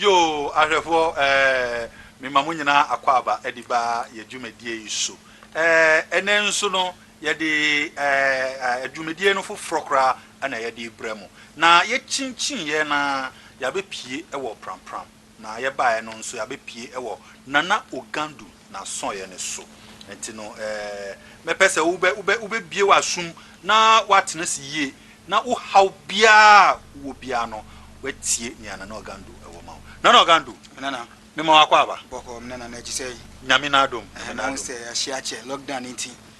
yoo ahwɛfoɔ ɛɛ mema mo nyinaa akɔ aba ɛde ba yɛ dwumadie yi so ɛɛ ɛnɛ nso no yɛde ɛɛ dwumadie no foforɔ koraa ɛna yɛde brɛ mo na yɛkyinkyin yɛ na yɛabɛpie ɛwɔ prampram. Na yɛbaeɛ no nso yɛabɛpue wɔ Nana Ogandu n'asɔeɛ no so. Nti no eh, mɛpɛ sɛ wobɛ, wobɛ, wobɛbue w'asom na woatena ase yie na wo haw biara a wowɔ biara no, woatie nea Nana Ogandu wɔ ma wo. Nana Ogandu, Me Nana. mema wo akwaaba. Bɔkɔɔ, me Nana, na akyi sɛn? Nyame n'adom, Nyame Ɛhɛn, na wo n'adom. sɛ yɛahyia kyɛ, lockdown nti.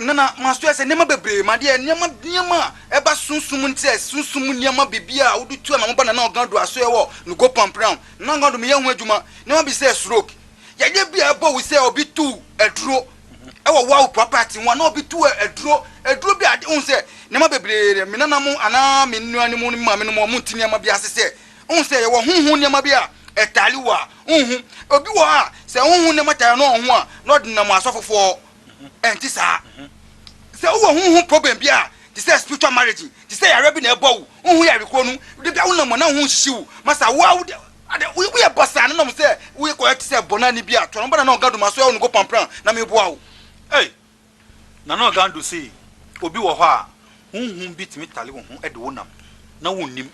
Ná na masoɛ sɛ nneɛma bebree, m'adeɛ, nneɛma nneɛma a ɛba sunsum mu no te sɛ sunsum mu nneɛma biribiara a wode tu anamɔ ba Nana Ogando asoɛ wɔ ne Gopan Pram, Nana Ogando meyɛ ho adwuma, nneɛma bi te sɛ stroke, yadeɛ bi a ɛbɔ wo sɛ obi tu aduro wɔ woawo property ho anaa obi tu aduro, aduro bi a ade, wohu sɛ nneɛma bebree deɛ me nananom anaa me nuanom ne me maamenom wɔn nte nneɛma bi ase sɛ wohu sɛ yɛwɔ honhom nneɛma bi a ɛtare wo a wonhu. Obi wɔ hɔ a sɛ honhom nneɛma tare no wɔ ho a na ɔdenam asɔfofoɔ hɔ. Ɛnte saa? Sɛ wowɔ honhom problem bi a, te sɛ spiritual marriage, te sɛ yare bi na ɛbɔ wo, wonhu yare koro no, da biara wonam a na wo ho nhyehye wo, masa wo ara wode ade woyɛ basaa na nam sɛ wokɔyɛ te sɛ bɔnani bi a, to ano ba Nana Ɔgando ma so ɛwɔ no go pampran na meboa wo. Ei! Nana Ɔgando se obi wɔ hɔ a, honhom bi tumi tare wo ho de wo nam na wonnim,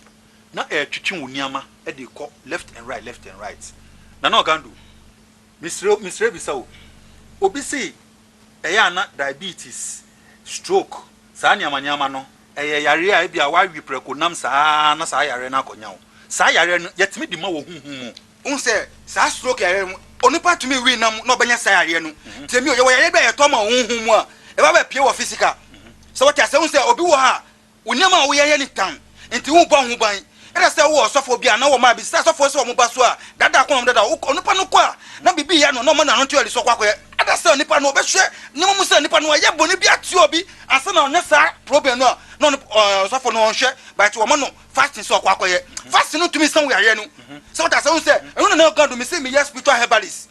na ɛretwetwe wo nneɛma de rekɔ left and right, left and right. Nana Ɔgando, Mesrɛ wo, mesrɛ bisa wo. Obi se ɛyɛ a na diabetes, stroke, saa nneɛma nneɛma no, ɛyɛ yareɛ a ebia woawe prɛko nam saa ara na saa yareɛ no akɔnya wo. Saa yareɛ no, yɛtumi de ma wɔ honhom mu. Wohu sɛ saa stroke yareɛ no, onipa tumi we nam na ɔbɛnya saa yareɛ no. Tie me o, yɛwɔ yareɛ bi a yɛtɔ ma wɔ honhom mu a, ɛba bɛpue wɔ physical. Sɛ wote aseɛ, wohu sɛ obi wɔ hɔ a, Wo nneɛma a woyɛ yɛ nitan nti wobɔ ho ban. Ɛda sɛ wowɔ ɔsɔfoɔ bi a na wɔma bisa asɔfoɔ sɛ wɔn ba so a daadaa kɔn na wɔn dada wo. Onipa no kɔ a, na biribi reyɛ no na ɔma n'ano nte ɔresɔ kɔ akɔyɛ. Ɛda sɛ onipa no ɔbɛhwɛ nneɛma mu sɛ nipa no ayɛ bɔne bi atia obi ansa na ɔnyɛ saa problem no a, na ɔne ɔsɔfoɔ no ɔnhwɛ but wɔma no fasting sɛ ɔkɔ akɔyɛ. Fasting no tumi sa wo yareɛ no. Sɛ wote aseɛ, wohu sɛ ɛno na na ɛkɔ do, mese meyɛ spiritual herbalist.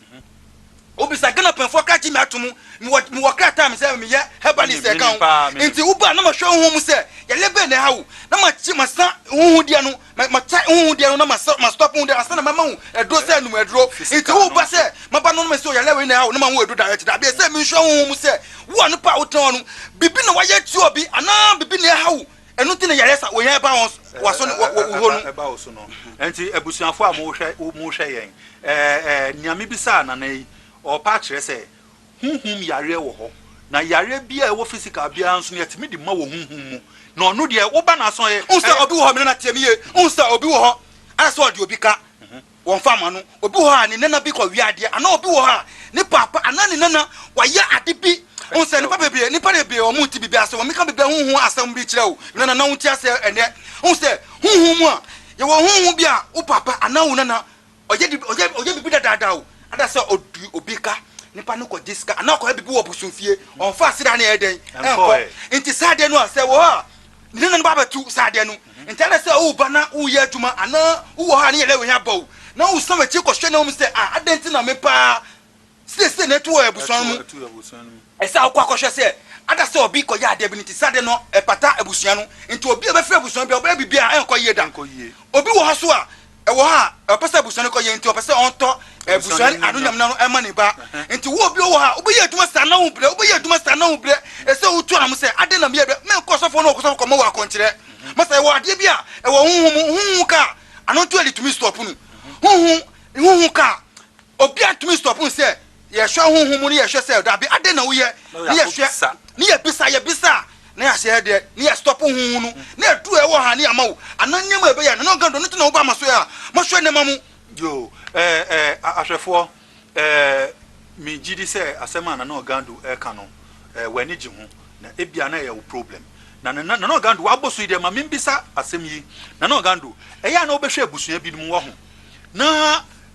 Obisa Ghana panyinfoɔ ka gye me ato mu mewɔ mewɔ krataa me sɛ meyɛ herbalist ɛka ho nti wo ba na ma hwɛ woho mu sɛ yale bɛn na ɛha wo na ma kye ma sa woho deɛ no ma ma kyɛ woho deɛ no na ma sa ma stop woho deɛ ansa na ma ma wo aduro sɛ num aduro nti wo ba sɛ ma ba no ma sɛ yale wei na ɛha wo na ma wo aduro direct dabi ɛsɛ me nhwɛ woho mu sɛ wo a no pa a wo tena hɔ no bibi na wayɛ atia obi anaa bibi na ɛha wo Ɛno nti na yareɛ sa wɔnya ɛba wɔn waso ne wɔ wɔ hɔ no. Ɛba wo so no. Nti abusuafo a mohwɛ mohwɛ yɛn, nea mebisaa nana yi, ɔrepa akyerɛ sɛ honhom yareɛ wɔ hɔ. Na yareɛ bi a ɛwɔ physical biara nso no yɛtumi de ma wɔ honhom mu. Na ɔno deɛ woba n'aso a ɔyɛ. Wohu sɛ obi wɔ hɔ, me nana tie me yie, wohu sɛ obi wɔ hɔ a sɛ ɔde obi ka. Wɔmfa mma no, obi wɔ hɔ a ne nana bi kɔwea adeɛ, anaa obi wɔ hɔ a ne paapa anaa ne nana wayɛ ade bi. Wohu sɛ nnipa bebree, nnipa bebree wɔnte biribi ase, wɔmmeka biribi a honhom asɛm bi kyerɛ wo, me nana, na wonte aseɛ ɛnnɛ. Wohu sɛ honhom mu a, yɛwɔ honhom bi a wo paapa anaa wo nana ɔyɛ de, ɔyɛ, ɔyɛ biribi dadaada o, ada sɛ ɔdi obi ka, nipa no kɔgye sika, anaa ɔkɔyɛ biribi wɔ bosomfie, ɔmfa aseda no ɛyɛ dɛn? Ɛnkɔ. Nti saa adeɛ no a, sɛ ɛwɔ hɔ a, Nna no ba bɛto saa adeɛ no ntaa dɛ sɛ woreba na woreyɛ adwuma anaa wowɔ hɔ a ne yɛ dɛ wo hia bɔ wo na wosan w'akyi kɔhwɛ na wohu sɛ ah adɛn nti na me pa ara seesei na atu wɔ abusua no mu. Ɛsɛ a wokɔ akɔhwɛ sɛ ada sɛ obi kɔyɛ adeɛ bi no nti saa adeɛ no ɛpata abusua no nti. Obi a ɔbɛfrɛ abusua biara ɔbɛyɛ biribiara a ɛrenkɔ yie da. Obi wɔ hɔ nso a ɛwɔ hɔ a ɔpɛ sɛ abusua no kɔ yɛ nti ɔpɛ sɛ ɔntɔ abusua no ano nyam no ɛma ne ba nti wo obi wɔ hɔ a wobɛyɛ adwuma saa na wo brɛ wobɛyɛ adwuma saa na wo brɛ ɛsɛ wotu anam sɛ ade na meyɛ brɛ menkɔ ɔsɔfoɔ no ɔkɔsɔfo kɔmɔ wɔ akɔnkyerɛ masa ɛwɔ adeɛ bi a ɛwɔ honhom honhom ka a ano nto adi tumi stɔpo no honhom honhom ka a obi atumi stɔpo no sɛ Yɛhwɛ honhom mu ne yɛhwɛ sɛ dabi adɛn na woyɛ ne yɛhwɛ ne yɛbisa yɛbisa a na yɛahyɛ yɛ deɛ ne yɛstɔpo honhom no na ɛdu a ɛwɔ ha ne yɛama wo anaa nneɛma a ɛbɛyɛ no na ɔnka dɔ no nti na woba ama so yɛ a mɔhwɛ nneɛma mu. Yo, ɛɛ ɛɛ ahwɛfoɔ, ɛɛ me gye di sɛ asɛm a Nana Ogando reka no, ɛɛ w'ani gye ho, na ebia na ɛyɛ wo problem. Na Nana Nana Ogando w'abɔ so yi deɛ ma me mbisa asɛm yi, Nana Ogando, ɛyɛ a na wobɛhwɛ abusua binom wɔ ho na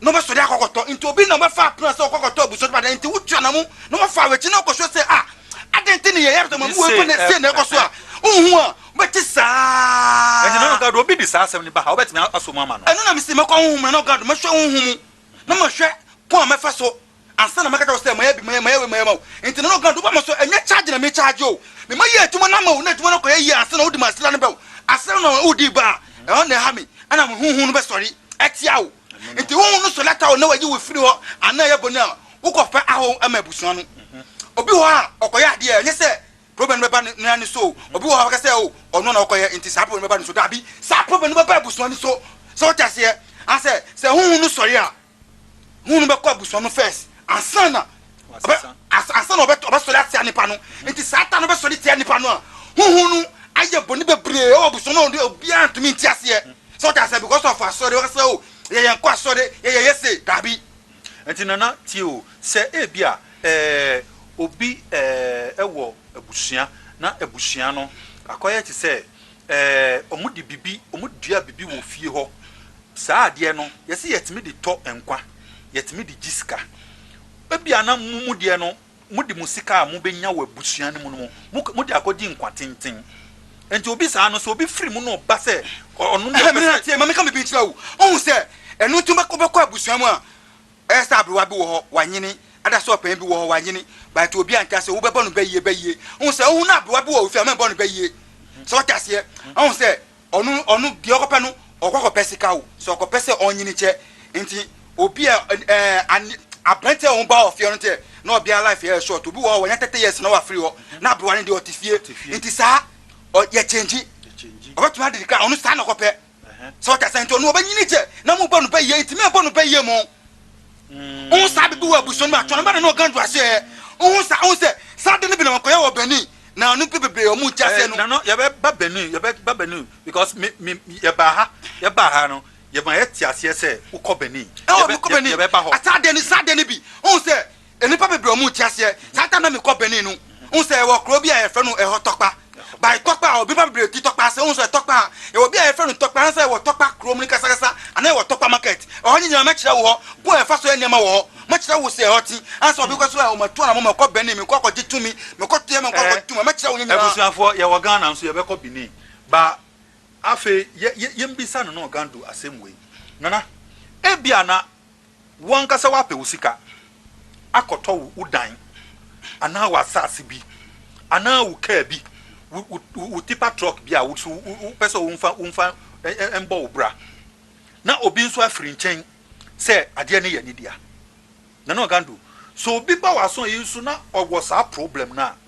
na ɔbɛsɔre akɔkɔtɔ nti obi na ɔbɛfa apena sɛ ɔkɔkɔtɔ abusua dwuma dɛn nti wotu anamu na wafa awakyi na ɔkɔsua sɛ a adɛn nti ne yɛyɛ sɛ mamu wɔkɔ na ɛsie na ɛkɔ so a wohu a wobɛte saa ɛne na nogado obi de saa asɛm ne ba ha wobɛtumi asɔ mu ama no ɛno na mesi mɛkɔ honhom na nogado mɛhwɛ honhom mu na mahwɛ ko a mɛfa so Ansa na mɛka kyerɛ wo sɛ mayɛ bi, mayɛ mayɛ wei, mayɛ ma wo. Enti na ɔka do ba ma so, ɛnyɛ charge na me charge o. Me ma yɛ adwuma no ama wo na adwuma no kɔyɛ yie ansa na wode m'asera no bɛwo. Asera no a wodii ba a, ɛhɔ na ɛha me, ɛna me honhom no bɛsɔre atia wo. Enti honhom no sɔre atia wo na wayi wo afiri hɔ anaa ɛyɛ bɔne a, wokɔfa ahɔho ma abusua no. Obi wɔ hɔ a, ɔkɔyɛ adeɛ a, ɛnyɛ sɛ problem no bɛba ne ara ne so o. Obi wɔ hɔ a, wobɛka sɛ o, ɔno na ɔkɔyɛ enti saa problem no bɛba ne so. Dabi, saa problem no bɛba abusua no so. So wote aseɛ? Anaasɛ sɛ honhom no sɔre a, Honhom no bɛkɔ abusua no first ansa na ansa na ɔbɛsɔre atia nipa no. Nti saa ta no bɛsɔre tia nipa no a, honhom no ayɛ bɔne bebree ɛwɔ abusua no a obiara ntumi nti aseɛ. Sɛ ɔte aseɛ because of asɔre ɔkasa o yɛ yɛn kɔ asɔre yɛ yɛ yɛ se daabi. Nti nana tie o sɛ ebi a ɛɛ obi ɛɛ ɛwɔ abusua na abusua no akɔyɛ te sɛ Ɛɛ, wɔde biribi, wɔdua biribi wɔ fie hɔ. Saa adeɛ no, wɔse wɔtumi de tɔ nkwa, wɔtumi de gye sika. Ebia na mo mu deɛ no, mode mo sika a mobɛnya wɔ abusua no mu no, mode akɔgye nkwa tenten. Enti obi saa no, sɛ obi firi mu na ɔba sɛ ɔno deɛ ɔpɛ sɛ. Ɛhɛɛ, me nua, tie, ma menka biribi nkyerɛ wo. Wohu sɛ, ɛno nti wobɛkɔ abusua mu a, Ɛyɛ sɛ aberewa bi wɔ hɔ, wanyini, ada sɛ ɔpanyin bi wɔ hɔ, wanyini, but obi anka sɛ wobɛbɔ no bayie, bayie. Wohu sɛ, wohu no aberewa bi wɔ wo fie a, mɛbɔ no bayie. So wote aseɛ? Wohu sɛ, ɔno, ɔno, deɛ ɔkɔpɛ no, ɔkɔ akɔpɛ sika o, so ɔkɔpɛ sɛ ɔnyini kyɛ. Nti, obi a, ɛɛ, an, aberante a wɔba wɔ fie no deɛ, na ɔbea life yɛ short. Obi wɔ hɔ, wanya thirty years na wafiri hɔ, na aberewa no deɛ, ɔte fie. Nti saa, ɔ, yɛkyɛngyi. Ɔbɛtumi adidi koraa, ɔno saa na ɔkɔpɛ. So ɔtɛ sɛ nti ɔno ɔbɛnyini kyɛ na mo bɔ no bɛyɛ nti mɛ bɔ no bɛyɛ mo ohun saa bibi wɔ abusua no atɔn bɛna na ɔgan do ahyɛ yɛ ohun saa ohun sɛ saa de no bi na wɔkɔyɛ wɔ Benin na ɔno pe bebree ɔmo nti aseɛ no. Nano yɛbɛ ba Benin yɛbɛ ba Benin because me me yɛ ba ha yɛ ba ha no yɛ ma yɛ te aseɛ sɛ wokɔ Benin yɛbɛ yɛbɛ ba hɔ. Asaa de no saa de no bi ohun sɛ Nnipa bebree a wɔnte aseɛ saa da na mekɔ Benin no hu sɛ yɛwɔ kuro bi a yɛfrɛ no ɛhɔ Tɔkpa. By Tɔkpa a nnipa bebree te Tɔkpa ase, wohu sɛ Tɔkpa a yɛwɔ bi a yɛfrɛ no Tɔkpa anaasɛ yɛwɔ Tɔkpa kuro mu no kasakasa anaa yɛwɔ Tɔkpa market. Ɛhɔ no nyinaa mɛkyerɛ wo hɔ, kwan a yɛfa so yɛ nneɛma wɔ hɔ, mɛkyerɛ wo sɛ ɛhɔ te ansa na obi kɔ sɛ o matu anamɔ mɛkɔ Benin mekɔ akɔgye tumi, mekɔ Teɛ mekɔ akɔgye tumi a, mɛkyerɛ wo ne nyinaa. Abusuafoɔ yɛwɔ Ghana nso yɛbɛkɔ Benin ba afei yɛ yɛ yɛnbisa Nana Ogando asɛm wei, Nana ebia na Wo ankasa woapɛ wo sika akɔtɔ wo dan anaa w'asase bi anaa wo kaa bi, wo tipa trɔk bi a wo nso wopɛ sɛ womfa bɔ wo bra, na obi nso afiri nkyɛn sɛ adeɛ no yɛ ne dea. Nana Ogando, sɛ obi ba w'aso yi so na ɔwɔ saa problem no a,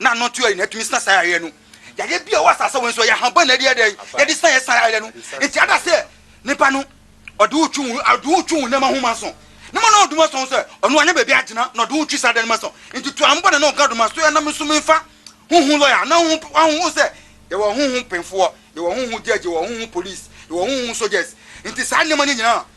na ano nto yare na atumi sina saa yareɛ no. Yareɛ bi a ɛwɔ asase wei nso ɛyɛ ahaban na ɛde yɛ dɛn yɛde sina yɛ sina yareɛ no nti ada sɛ nipa no ɔde wo twi wo ɔde wo twi wo nneɛma ho ma so ne ma na ɔdoma sɔn sɛ ɔno anya baabi agyina na ɔde wo twi saa dɛn ma so nti to ampa na na ɔka doma so yɛ nam nso menfa huhu lɔya na ho ho sɛ yɛwɔ huhu mpemfoɔ yɛwɔ huhu gyɛgye yɛwɔ huhu polisi yɛwɔ huhu sogyɛs nti saa nneɛma no nyinaa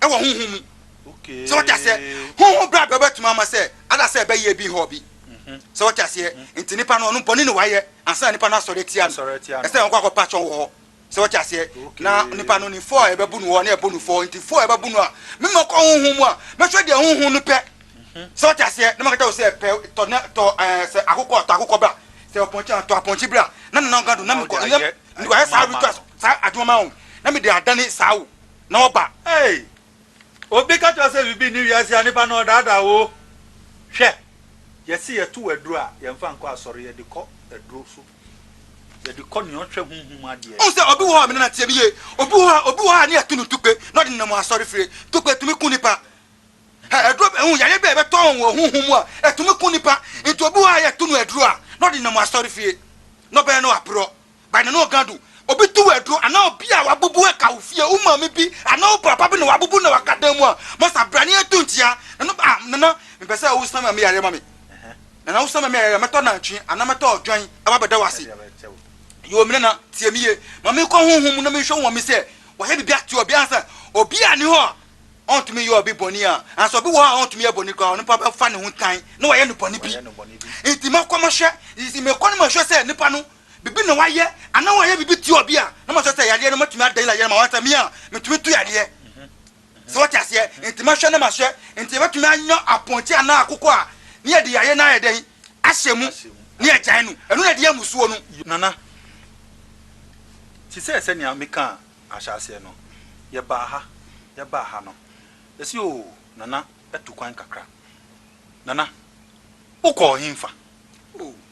wɔ honhom mu. Sɛ wɔte aseɛ, honhom bra bɛ bɛtumi ama sɛ ada sɛ ɛbɛ yɛ bi hɔ bi. Sɛ wɔte aseɛ, nti nipa no ɔno bɔne ne wayɛ ansa na nipa no asɔre atia no. Ɛsɛ na wɔkɔ akɔ pa kyɔn wɔ hɔ. Sɛ wɔte aseɛ, na nipa no nim fɔ a ɛbɛ bu no hɔ na ɛbɔ no fɔ nti fɔ a ɛbɛ bu no a me ma kɔ honhom mu a mɛhwɛ deɛ honhom no pɛ. Sɛ wɔte aseɛ, na makata wo sɛ pɛ tɔ na tɔ ɛɛ sɛ akokɔ tɔ akokɔ bra sɛ ɔpɔnkye a tɔ apɔnkye bra na nana ɔga do na mekɔ na wayɛ saa rituals saa adwuma ma wo na mede adane saa wo Na ɔba. Ei! Obi ka kyerɛ wo sɛ biribi nni wiase a, nipa no ɔdaadaa wo. Hwɛ! Yɛse yɛtow aduro a, yɛmfa nkɔ asɔre, yɛde kɔ aduro so. Yɛde kɔ nea ɔhwɛ honhom mu adeɛ. Wohu sɛ obi wɔ hɔ a, me nana tie me yie, obi wɔ hɔ a, obi wɔ hɔ a ne yɛto no tukpe na ɔde nenam asɔre fie. Tukpe tumi ku nipa. Hɛ! Aduro bɛn, wohu yareɛ bi a yɛbɛtɔ wɔn wɔ honhom mu a, ɛtumi ku nipa. Nti obi wɔ hɔ a yɛto no aduro a, na ɔde nenam asɔre fie. Na ɔbɛyɛ no aporɔ. By Nana Ogado, Obi to wo aduro anaa obi a wabubu aka wo fie, wo maame bi anaa wo papa bi na wabubu na waka dan mu a, masa bra na yɛnto nkyea. Nana, Ah, Nana, mepɛ sɛ wosesa maame yareɛ ma me. Nana, Wosesa maame yareɛ a, mɛtɔ nantwi anaa mɛtɔ odwan aba abɛda wo ase. Yoo, me Nana, tie me yie. Ma menkɔ honhom mu na menhwɛ wo maame sɛ wayɛ biribi atia obi ansa. Obi a ne hɔ a ɔntumi nyɛ obi bɔne a, anaasɛ obi wɔ hɔ a ɔntumi nyɛ bɔne koraa a, onipa bɛfa ne ho tan na wayɛ no bɔne bi. Enti mɛkɔ mahwɛ, mekɔ na mahwɛ sɛ nipa no Biribi na wayɛ anaa wayɛ biribi tia obi a, na mahwɛ sɛ yadeɛ no matumi ada yɛn ayɛ no ma wɔn sɛ me a metumi to yadeɛ. So wɔte aseɛ? Nti mɛhwɛ na mahwɛ. Nti yɛbɛtumi anya apɔnkye anaa akokɔ a ne yɛde yadeɛ no ayɛ dɛn? Ahyɛ mu na yɛagyae no. Ɛno na ɛde yɛ mmusuo no. Nana, te sɛ sɛnea mekaa ahyɛaseɛ no, yɛbaa ha, yɛbaa ha no, ɛsɛ oo, Nana, tu kwan kakra. Nana, wokɔɔ henfa?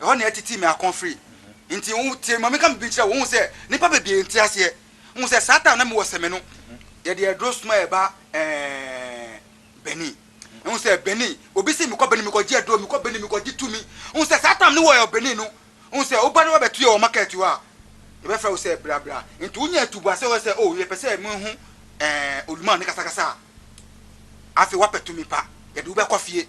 Ɛhɔ na ɛtetee me akɔn firi. Enti, wo tie ma menka biribi nkyerɛ wo. Wohu sɛ, nnipa bebree nte aseɛ. Wohu sɛ, saa time na mewɔ sɛme no, yɛde aduro soma yɛ ba ɛɛɛ Benin. Wohu sɛ, Benin, obi se mekɔ Benin mekɔgye aduro, mekɔ Benin mekɔgye tumi. Wohu sɛ, saa time no wɔ yɛ Benin no, wohu sɛ, woba na woabɛto yɛ wɔ market hɔ a, yɛbɛfrɛ wo sɛ bra bra. Enti, wonya atuboaseɛ wɔ hɔ sɛ, oh, yɛpɛ sɛ mehu ɛɛɛ Olumaa ne kasakasa a, afei woapɛ tumi pa, yɛde wo bɛkɔ fie.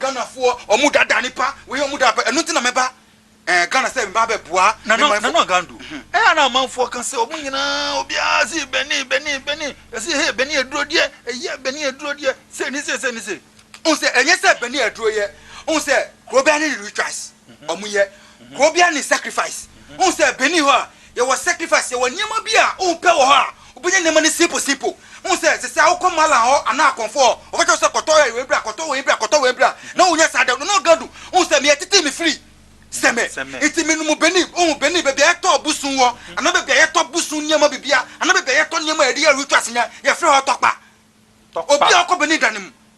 Ghana foɔ ɔmo da da nipa wei ɔmo da pɛ ɛno nti na mɛ ba ɛɛ Ghana sɛ mɛ ba bɛ boa mɛ manfoɔ. Nana Nana Gando ɛyɛ ana amanfoɔ ka sɛ ɔmo nyinaa obiara si bɛni bɛni bɛni yɛsi hee bɛni aduro deɛ ɛyɛ bɛni aduro deɛ sei ni sei sei ni sei. Ohun sɛ ɛnyɛ sɛ bɛni aduro yɛ ohun sɛ kuro biara ne ne rituals ɔmo yɛ kuro biara ne sacrifice ohun sɛ bɛni hɔ a Yɛwɔ sacrifice, yɛwɔ nneɛma bi a wopɛ wɔ hɔ a, wobɛnya nneɛma no simple simple. Wohu sɛ sɛ sɛ wokɔ mallah hɔ anaa akɔmfo hɔ, wɔka kyerɛ wo sɛ kɔtɔ ɛ wei bra, kɔtɔ wei bra, kɔtɔ wei bra, na wonya saa da no na ɔga du. Wohu sɛ me yɛtetee me firi Seme nti me nom Benin, wohu Benin baabi a yɛtɔ busu wɔ anaa baabi a yɛtɔ busu nneɛma biribiara anaa baabi a yɛtɔ nneɛma a yɛde yɛ rituals nyinaa yɛfrɛ hɔ tɔkpa. Obi a ɔkɔ Benin da no mu.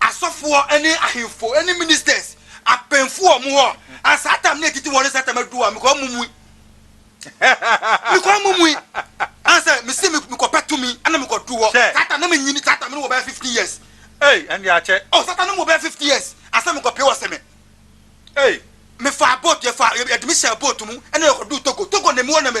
Asɔfoɔ ne ahemfo ne ministers apɛnfo wɔ wɔn hɔ a saa tam no ɛtiti wɔn ne saa tam adu a mekɔ mumui mekɔ mumui ansa mesi mekɔ pɛ tumi ana mekɔ du hɔ saa tam na menyini saa tam no wɔ bɛyɛ 15 years Ei, ɛnde akyɛ. Oh, saa tam no wɔ bɛyɛ 50 years ansa mekɔ pɛ wɔ sɛ me Ei. mefaa boat yɛfa yɛde me hyɛ boat mu ɛna yɛkɔ du Togo Togo na mewɔ na me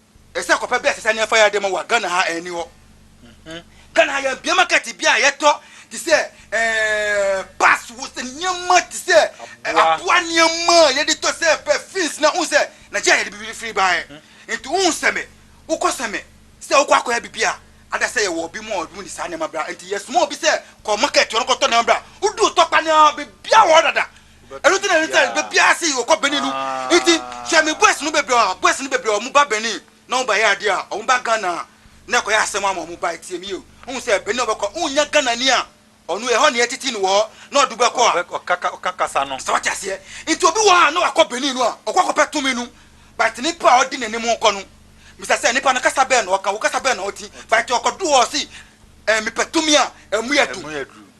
Ɛsɛ kɔpɛ bia sesa nneɛfa yɛde ma wa Ghana ha ɛni hɔ Ghana ha yɛn bia market bia yɛtɔ te sɛ ɛɛ pass wo sɛ nneɛma te sɛ aboa nneɛma yɛde tɔ sɛ perfumes na un sɛ Nigeria yɛde bibi firi baɛ nti un sɛ me wokɔ sɛ me sɛ wokɔ akɔyɛ bibi a ada sɛ yɛwɔ obi mu a obi mu ni saa nneɛma bra nti yɛsoma obi sɛ kɔ market hɔ no kɔtɔ nneɛma bra wodu otɔ kpa nneɛma bibia wɔ hɔ dada Ɛno ti na ɛne sɛ bɛ biara se wɔkɔ Benin no. Nti hwɛ me boys no bebree a boys no bebree a wɔn ba Benin na wɔn ba yɛ adeɛ a wɔn ba Ghana a na ɛkɔyɛ asɛm ama wɔn bae tie me yie o. Wohu sɛ Benin na wɔbɛkɔ wonnya Ghanani a ɔno ɛhɔ na yɛtete no wɔ hɔ na ɔde wo bɛkɔ a. Ɔka kasa no. Sɛ wate aseɛ. Nti obi wɔ hɔ a na wakɔ Benin no a ɔkɔ akɔpɛ tumi no but nipa a ɔde n'anim rekɔ no bisa sɛ nipa no kasa bɛn na ɔka wo kasa bɛn na ɔte but ɔkɔdo hɔ a ɔse ɛɛ mepɛ tumi a ɛmu yɛ duru.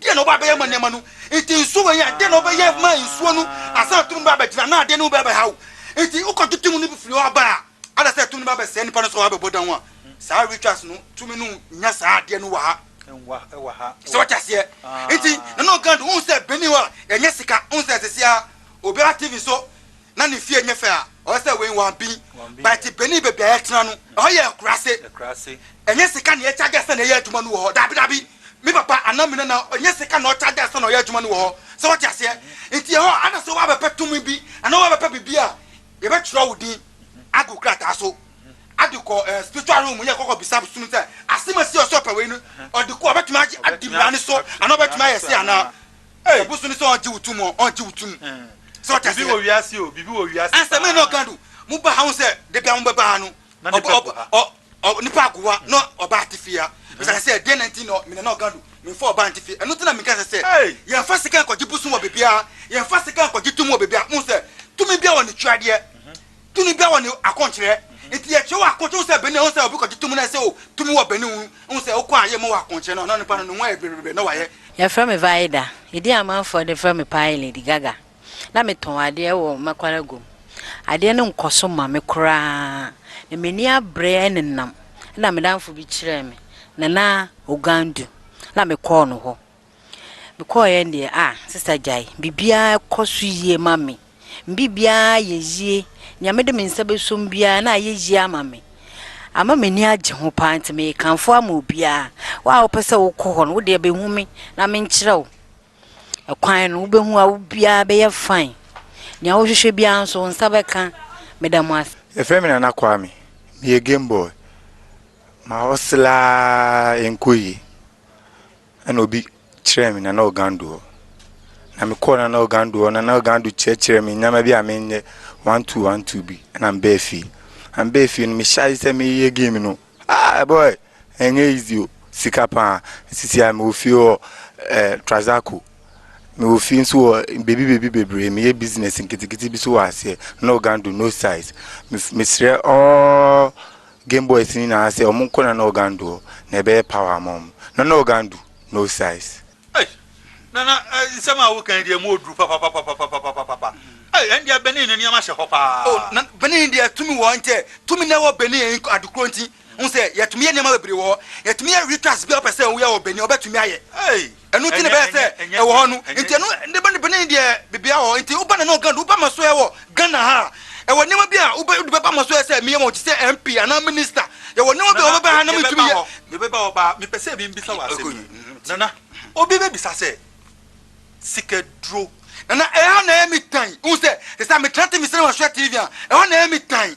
Deɛn na ɔba abɛyɛ ma nneɛma no? Nti nsuo wei a, deɛn na ɔbɛyɛ ma nsuo no ansa na tumi no bɛ abɛgyina anaa adeɛ no bɛ abɛha wo? Nti wokɔ dwetɛ mu no bi firi hɔ aba a, ada sɛ tumi no bɛ abɛsɛe nipa no so a wabɛbɔ dan ho a, saa rituals no tumi no nnya saa adeɛ no wɔ ha. So wate aseɛ? Nti Nana Ogando, wohu sɛ Benin hɔ a, yɛnyɛ sika, wohu sɛ sɛsi ara obiara TV so Na ne fie nyɛ fɛ a ɔyɛ sɛ wei wɔn bin but benin baabi a yɛtena no ɛhɔ yɛ akurase ɛnyɛ sika na yɛkyagya sɛ na ɛyɛ adwuma no wɔ hɔ daabi daabi me papa anaa me nana ɛnyɛ sika na ɔkyagya sɛ na ɔyɛ adwuma no wɔ hɔ sɛ wote aseɛ nti ɛhɔ ada sɛ woabɛpɛ tumi bi anaa woabɛpɛ biribi a yɛbɛtwerɛ wo din agu krataa so ade kɔ eh, spiritual room yɛ kɔkɔ bisa som sɛ asɛm asi ɔsɛ ɔpɛ wei no ɔde kɔ ɔbɛtumi agye adi mmara no so anaa ɔbɛtumi ayɛ se anaa Ei! Obu so ne sɛ ɔngye wo tom ɔ, ɔngye wo tom. Sɛ ɔte aseɛ. Biribi wɔ wiase o, biribi wɔ wiase paa. Asɛm na ɔka no, mo ba ha ho sɛ dabiara mo bɛba ha no. Na nipa gu ha. Ɔ, ɔ, ɔ, nipa gu ha na ɔba ate fie ha. Bisa no sɛ, deɛn na nti na ɔ, me nana ɔka no, menfa ɔba nte fie. Ɛno nti na meka sɛ sɛ, yɛnfa sika nkɔgye bosom wɔ baabiara, yɛnfa sika nkɔgye tumi wɔ baabiara. Mohu sɛ, tumi biara wɔ ne twadeɛ. Tumi biara wɔ ne akɔnkyerɛ. Nti yɛkyerɛ wɔ akɔnkyerɛ ho sɛ benin a ɛho sɛ obi kɔgye tumi no ɛsɛ o tumi wɔ benin ho ho sɛ wokɔ a yɛ mmɔ wɔ akɔnkyerɛ no ɔno nipa no ne ho ayɛ bebrebe na wayɛ. Yɛfrɛ me Vaida. Edin a amanfoɔ de frɛ me paa yɛ Lady Gaga. Na metɔn adeɛ wɔ Makwaraguam. Adeɛ no nkɔso ma me koraa na m'ani abere nenam. Ɛna me danfo bi kyerɛɛ me Nana Ogandu na mekɔɔ no hɔ. Mekɔeɛ deɛ ah sista gyae biribiara kɔ so yie ma me me biribiara yɛ yie nea mede me nsa bɛsom biara na ayɛ yie ama me ama m'ani agye ho paa nti mekamfo ama obiara wo a wopɛ sɛ wokɔ hɔ no wo deɛ bɛhu me na menkyerɛ wo ɛkwan no wobɛhu a wobiara bɛyɛ fine nea wohwehwɛ biara nso wo nsa bɛka meda mo ase Yɛfrɛ me Nana Kwame, meyɛ game boy. Ma hustle ara ɛnkɔ yie. Ɛna obi kyerɛɛ me Nana Ogando hɔ. Na mekɔɔ Nana Ogando hɔ, Nana Ogando kyerɛkyerɛɛ me nneɛma bi a menyɛ one two one two bi. Ɛna mbɛɛ fie. Na mbɛɛ fie no mehyɛ ase sɛ meyɛ game no. Ah boy, ɛnyɛ easy o, sika paa. Sisi a mewɔ fie wɔ eh, Trazaco. Mewɔ fie nso wɔ beebi beebi bebree. Meyɛ business nketenkete bi so wɔ aseɛ. Nana Ogando no size. Mesrɛ all Game boys no nyinaa sɛ ɔmo nkɔ Nana Ogandu hɔ na ɛbɛyɛ power ama ɔmo. Nana Ogandu, no size. Ei! Nana, nsɛm a woka yi deɛ mu ɔduru papapapapapapapapa. Ei, ɛndeɛ Benin no nneɛma hyɛ hɔ paa. Oh, Nana, Benin deɛ tumi wɔ hɔ nkyɛ. Tumi na ɛwɔ Benin nko, ade korɔ nti. Wohu sɛ, yɛtumi yɛ nneɛma bebree wɔ hɔ. Yɛtumi yɛ rituals biara a wopɛ sɛ woyɛ wɔ Benin, wobɛtumi ayɛ. Ei! Ɛno nti na ɛbɛyɛ sɛ ɛwɔ hɔ no. Nti ɛno de ba ne Benin deɛ bebia wɔ hɔ. Nti woba na ne wɔ Ghana woba Masoɛ wɔ Ghana ha a, ɛwɔ nneɛma bi a wode bɛba Masoɛ a sɛ meyɛ ma wo te sɛ MP anaa Minister. Yɛwɔ nneɛma bi a wobɛba ha na mentumi yɛ. Yɛbɛba hɔ paa. Mepɛ sɛ me bisa wo asɛm bi. Nana, obi bɛbisa sɛ, Sikaduro. Nana, ɛha na ɛyɛ me tan. Wohu sɛ, sɛ sɛ metra te mesɛne Masoɛ TV a, ɛhɔ na ɛyɛ me tan.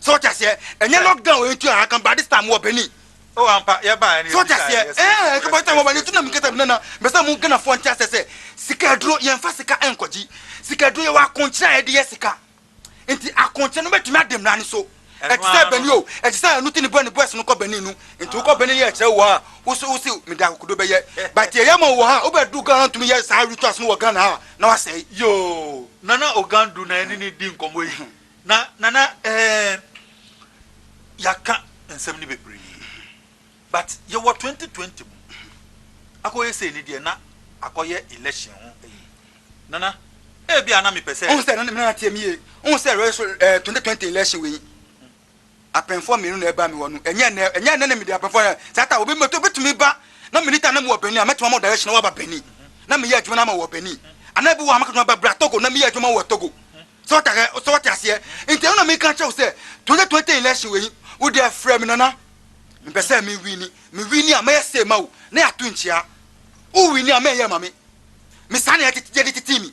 So what ase eh? Enye lockdown we ntu aha kan ba this time wo bani. Oh ampa ye ba ni. So what ase eh? Eh kan ba time wo bani tu na me keta na me sa mu gana fo nti ase se sika aduro ye nfa sika enkoji. Sika aduro ye wa konchira ye de ye sika. Nti akonchira no betumi adem na ni so. Eti se bani o, eti se anu ti ni bo ni boys no ko bani nu. Nti wo ko bani ye kire wo ha. Wo so wo si me da kokodo be ye. But ye ye ma wo ha, wo be du gana ntumi ye sa rituals no wo gana ha na wa se. Yoo nana ogandu na eni ni di nkomo yi. Na nana eemm yɛaka nsɛm no bebree but yɛwɔ twenty twenty mu akɔyɛ sei no deɛ na akɔyɛ election ho ayi nana ebia na mepɛ sɛ. Wohu sɛ nana nana tie me yie wohu sɛ ɛɛ twenty twenty election wei. Apɛnfoɔ mmienu na ɛbaa me hɔ no, ɛnyɛ ɛnnɛ, ɛnyɛ ɛnnɛ na mede apɛnfoɔ no, saa ta, obi mɛtɔ, obɛtumi ba, na meni ta na mewɔ Benin a, mɛtumi ama wo direction na waba Benin, na meyɛ adwuma no ama wo wɔ Benin, anaa ebi wɔ hɔ a mɛkatumi aba bra Togo na meyɛ adwuma wɔ Togo, sɛ wate ahɛ, sɛ wate aseɛ, nti ɛno na meka kyerɛ wo sɛ, 2020 election wei, wo deɛ frɛ me Nana, mepɛ sɛ me wini, me wini a, mɛyɛ sei ma wo, na yɛato nkyia, wo wini a, mɛyɛ ma me, me saa na yɛde tetee me.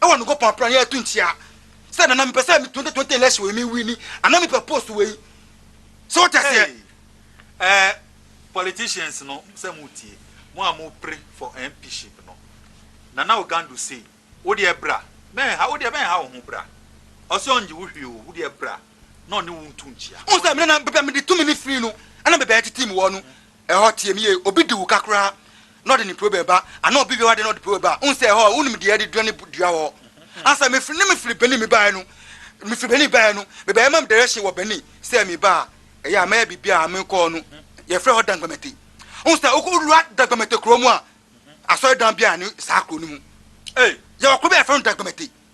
Ɛwɔ Nokopɔn apra yɛ ɛtu nkyea sɛ nana mepɛ sɛ 2020 election wei me wini ana mepɛ post wei sɛ wote aseɛ ɛɛ eh, politicians no sɛ mo tie mo a mo pre for MPship no nana ogandu sei wodeɛ bra mɛnha wodeɛ bɛnha wo ho bra ɔsɛ ɔngye wo hwee o wodeɛ bra na ɔne wo ntu nkyea. Wo sɛ mene na bɛbɛ mede tumi ne free no ana bɛbɛ titi mu wɔ no Ɛhɔ teɛ mu yie, obi di wo ka koraa na ɔde ne puro bɛba anaa obi wia w'adeɛ na ɔde puro bɛba a, wohu sɛ ɛhɔ a wonim deɛ yɛde dua ne dua wɔ hɔ. Ansa mefiri ne mefiri Benin mebaeɛ no, mefiri Benin baeɛ no, mebaeɛ ma me direction wɔ Benin sɛ meba a ɛyɛ a mɛyɛ biribi a mekɔɔ no yɛfrɛ hɔ Dangbamete. Wohu sɛ wowura Dangbamete kuro mu a, asɔredan biara nni saa kuro no mu. Yɛwɔ kuro bi a yɛfrɛ no Dangbamete.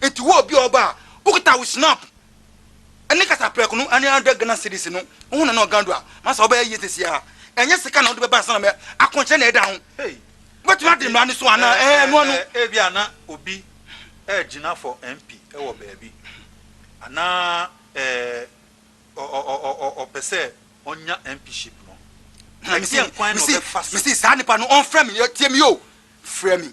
Enti wo obi a ɔba a wokita wo snap ne kasaprɛko no ne hundred Ghana cedis no woho na na ɔgan do a masa wobɛyɛ yie sɛsi ara ɛnyɛ sika na wode bɛba ansa na mɛ akɔnkyerɛ na ɛda ho wobɛtumi ade mmara no so anaa ɛɛ ɛnoa no. Ebi a na obi ɛɛgyina for MP ɛwɔ baabi anaa ɛɛ ɔ ɔ ɔ ɔ ɔpɛ sɛ ɔnya MPship no ɛdeɛn kwan na ɔbɛfa so. Mesi saa nipa no ɔnfrɛ me tie me o frɛ me.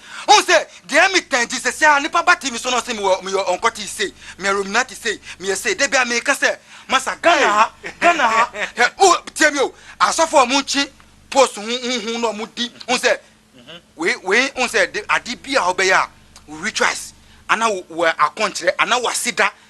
Wohu sɛ, deɛ ɛyɛ me pɛ nti, seesei ara nnipa ba TV so na wɔse mewɔ, meyɛ ɔnkɔtee sei, meyɛ Rominati sei, meyɛ sei. Da biara meka sɛ, Masa, Ghana ha, Ghana ha. Hwɛ, wo, tie me o, asɔfo a wɔnkye post ho huhu na wɔdi, wohu sɛ, wei, wei, wohu sɛ, de, ade bi a wobɛyɛ a, wo rituals, anaa wo, wo akɔnkyerɛ, anaa w'aseda,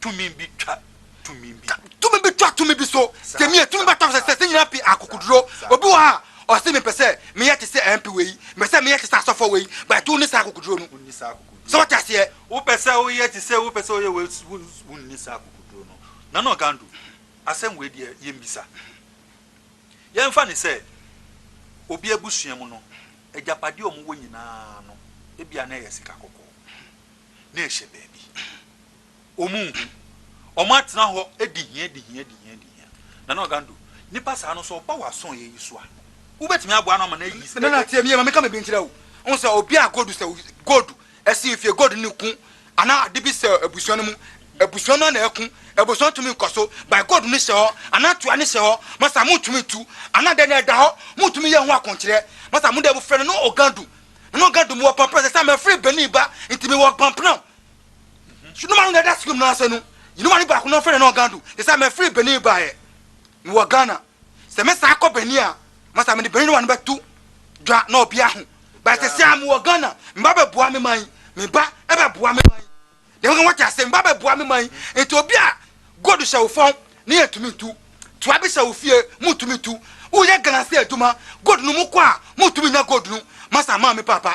tumi bi twa tumi bi. Tumi bi twa tumi bi so. Gyemi yɛ tumi bata sɛ sɛ nyina pi akokoduro. Obi wɔ ha ɔse mepɛ sɛ meyɛ te sɛ MP wei, mepɛ sɛ meyɛ te sɛ asɔfoɔ wei, but wonni saa akokoduro no. Sɛ wote aseɛ? Wopɛ sɛ woyɛ te sɛ wopɛ sɛ woyɛ wei, wonni saa akokoduro no. Nana Ogandu, asɛm wei deɛ yɛmmisa. Yɛmfa no sɛ obi abusua mu no, agyapadeɛ a wɔwɔ nyinaa no, ebia na ɛyɛ sika kɔkɔɔ, na ɛhyɛ baabi. Wɔn nhu. Wɔn atena hɔ di hia di hia di hia di hia. Nana Ogando, nipa saa no sɛ ɔba w'aso yɛ yi so a, wobɛtumi aboa no ama no ayi. Nana tie me yie ma me ka me bi nkyerɛ wo. Wohu sɛ obi a gold sɛ gold ɛsi fie gold ne ku anaa ade bi sɛ abusua no mu abusua no na ɛku abusua tumi nkɔ so by gold ne hyɛ hɔ anaa tua ne hyɛ hɔ masa mo tumi tu anaa dɛ na ɛda hɔ mo tumi yɛ ho akonkyerɛ masa mo dɛ mo frɛ no no Ogando no Ogando mo wɔ pampana sɛ sɛ mɛfiri Benin ba ntumi wɔ pampana sunuma no na ɛda sukuu no ase no yinuma no baako no fɛn no ɔgando ɛsɛ mɛ firi benin baayɛ mi wɔ ghana sɛ mɛ saa kɔ benin a masa mɛ de benin no wa no bɛ tu dwa na ɔbi aho bɛyɛ sɛ sɛ mi wɔ ghana mi ba bɛ bua mi man mi ba ɛbɛ bua mi man dɛm kan wɔte ase mi ba bɛ bua mi man nti obi a god hyɛ wo fɔn ne yɛ tumi tu tua bi hyɛ wo fie mu tumi tu woyɛ ghana se adwuma god no mu kɔ a mu tumi nya god no masa maa mi papa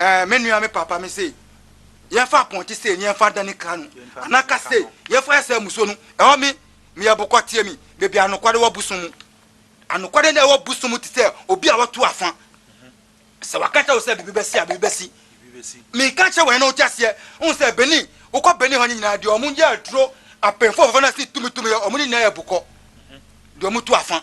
Ɛɛ me nua me papa me se yɛn fa apɔnte se ni yɛn fa dani kra no ana ka se yɛn fa ɛsɛ muso no ɛhɔ me me yɛ bokɔ tie mi bebi anokwade wɔ busu mu anokwade na ɛwɔ busu mu te sɛ obi a watu afa sɛ waka kyɛ wo sɛ bibi bɛsi a bibi bɛsi mi ka kyɛ wɔn na ɔte aseɛ ɔn sɛ beni wokɔ beni hɔ ne nyinaa deɛ ɔmo yɛ aduro apɛnfo fɔfɔ na si tumi tumi yɛ ɔmo ne nyinaa yɛ bokɔ deɛ ɔmo tu afa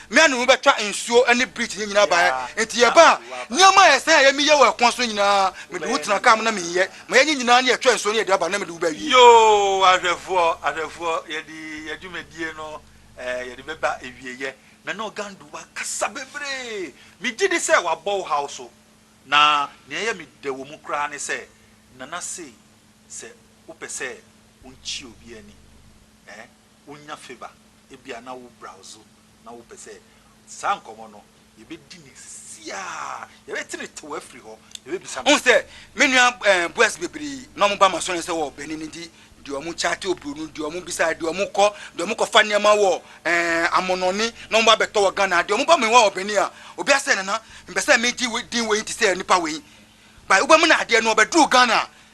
Me ne no bɛtwa nsuo ne bridge no nyinaa baeɛ, enti yɛbaa nneɛma a ɛsɛ yɛ meyɛ wɔ ɛkwan so no nyinaa, mede wo tena kaa mu na meyɛ ma yɛnyɛ nyinaa na yɛtwa nsuo no yɛde aba na mede wo bɛwie. Yoo, ahwɛfoɔ, ahwɛfoɔ, yɛde yɛn dwumadie no eh, yɛde bɛba awieɛ. Me ne Ogandu akasa bebree, megye di sɛ wabɔ wo haw so, na nea ɛyɛ me dɛ wɔ mu koraa ne sɛ, Nana sei, sɛ wopɛ sɛ wonkyia obi ani eh, wonya favour ebia na wo browse na wo pɛ sɛ saa nkɔmɔ no yɛ bɛ di ne sisi a yɛ bɛ tene tew afiri hɔ yɛ bɛ bisa no. Wohu sɛ me nua eh boys bebree na ɔmo ba masɔre sɛ wɔ bɛne ne di deɛ ɔmo chate obroni deɛ ɔmo bisa deɛ ɔmo kɔ deɛ ɔmo kɔ fa nneɛma wɔ eh amonɔne na ɔmo ba bɛtɔ wɔ Ghana deɛ ɔmo ba me hɔ wɔ bɛne a obi asɛ nana mpɛ sɛ me gye din wei te sɛ nipa wei by wo bɛ mo na adeɛ no ɔbɛ duru Ghana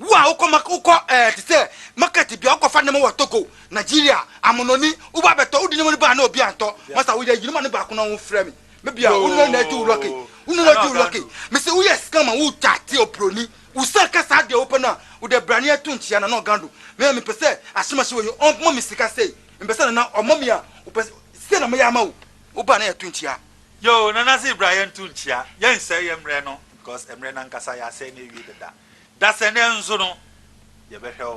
Wo a wokɔ ma wokɔ ɛɛ te sɛ market bia wokɔfa nneɛma wɔ Togo, Nigeria, Amononi, woba abɛtɔ wode nneɛma no baa na obi antɔ masa woyɛ ayi no ma no baako na wo frɛ me me bia wo nua na agye wo lɔke wo nua na agye wo lɔke mese woyɛ scam ma wo chat obroni wo san ka saa deɛ wopɛ no a wode brane ato nkyia na na ɔgan do me a mepɛ sɛ ahyemahye wɔ yi ɔmma me sika sei mepɛ sɛ nana ɔmma me a wopɛ sɛ na meyɛ ama wo woba na yɛto nkyia Yoo nana se bra yɛnto nkyia yɛnsɛe yɛ mmerɛ no because mmerɛ no ankasa yɛasɛe no awie dada dasɛ nɛ nso no yɛbɛhwɛ wo.